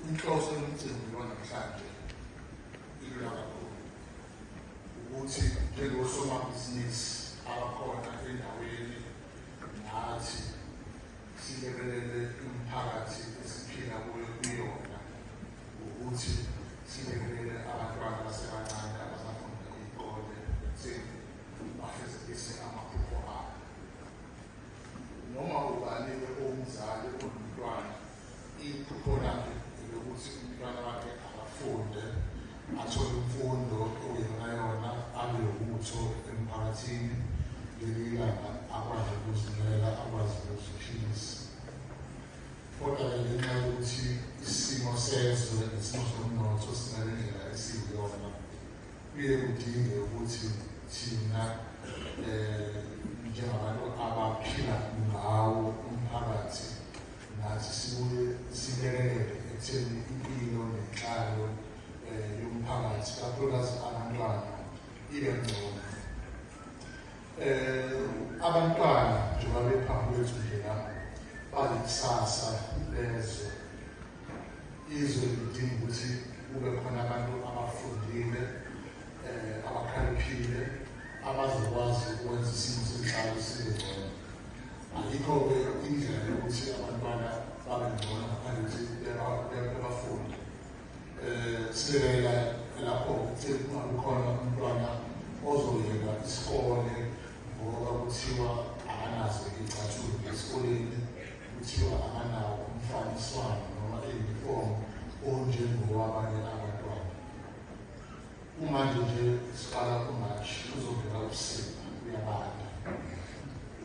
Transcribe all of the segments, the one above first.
Inhloso yomcimbi wanamhlanje ilula kakhulu ukuthi njengosomabhizinisi abakhona endaweni nathi silekelele umphakathi esiphila kuyo kuyona ukuthi silekelele abantwana abasebancane abasafunda iy'kole ekutheni bafezekise amaphupho abo noma ubani-ke owumzali olumntwana iphupho lakhe elokuthi umntwana wakhe akafunde athole imfundo okuyonayona abe lobutho emphakathini leli ilanga akwazi ukuzimela akwazi nokuziphilisa kodwa-ke ngenxa yokuthi isimo sezwe nesimo somnotho sinale ndlela esiyiyona kuye kudinge ukuthi thina um njengabantu abaphila ngawo umphakathi Nathi sibuye silekelele ekutheni impilo nenhlalo eh, yomphakathi kakhulukazi abantwana ibe ngcono. Um eh, abantwana njengoba bephambi kwethu nje la balikusasa lezwe. Izwe lidinga ukuthi kube khona abantu abafundile um abakhaliphile abazokwazi ukwenza isimo senhlalo sibe ngcono. Ayikho-ke indlela yokuthi abantwana babe ngcono ngaphandle ukuthi bebafunde. Um sibekela lapho ukuthi kungabikhona umntwana ozoyeka isikole ngoba kuthiwa akanazo iy'cathulo esikoleni, kuthiwa akanawo umfaniswano noma iyunifomu onjengowabanye abantwana. Kumanje nje siqala kuMarch kuzovela ubusika kuyabanda.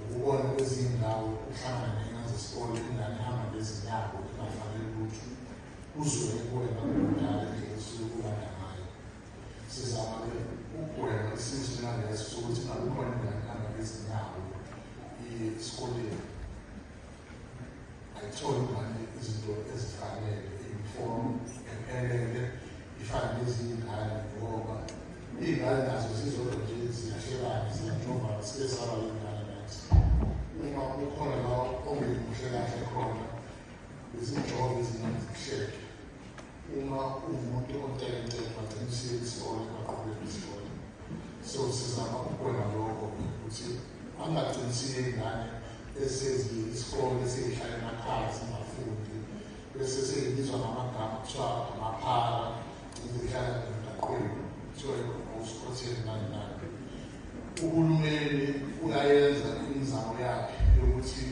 Ukubona kwezinye indawo kuhlangana nengane zesikole ingane ihamba ngezinyawo ingafanele lutho kuzobe kuwena kudala nje usuke kubanda ngayo. Sizama-ke ukugwema isimo esinjengalesi sokuthi akukhona ingane ihamba ngezinyawo esikoleni. ayitholi manje izinto ezifanele inform ephelele ifane neziyingane ngoba iy'ngane nazo zizodwa nje ziyahlekana ziyajovana sibe saba lengane nathi uma ukhona la ongemuhle kahle khona izinjongo ezingazihleke uma uwumuntu ontekenteke bagcina usiye isikole baqhubeke isikole so sizama ukugwema lokho ukuthi Angaqinisile ingane esezi isikole esihlale emakhaya singafundi bese seyibizwa ngamagama kuthiwa amaphara izihlala emgaqweni kuthiwa usikhotheni nani nani uhulumeni uyayenza imizamo yakhe yokuthi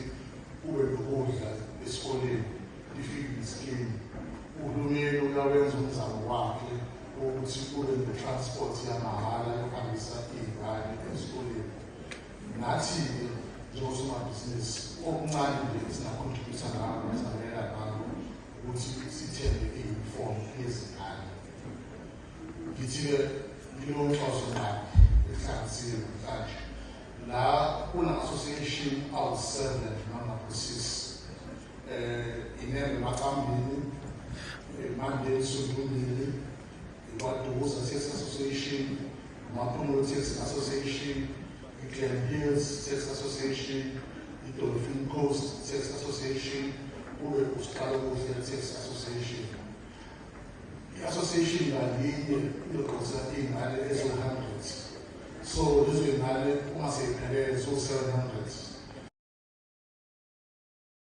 kube nokudla esikoleni ifikiliskin uhulumeni uyawenza umzamo wakhe wokuthi kube ne-transport yamahhala yokuhambisa iy'ngane esikoleni nathi-ke njengosomabhizinisi okuncane nje esingakhontributha ngako nesanela ngako ukuthi sithenge i-uniform yezingane ngithi-ke nginonhloso ngqabi ehlanganisiwe namhlanje la kuna-association awu-seven noma ku-six eh inene maqambini eh, manje isundulile ikwaduza Theatre Association Maphulo Theatre Association iGlen Hills Theatre Association iDolphin Coast Theatre Association kube usiqala kuhle Theatre Association i-association ngalinye izoqosa iy'ngane eziwu-hundred so lezo y'ngane uma seyiphelele ziwu-seven hundred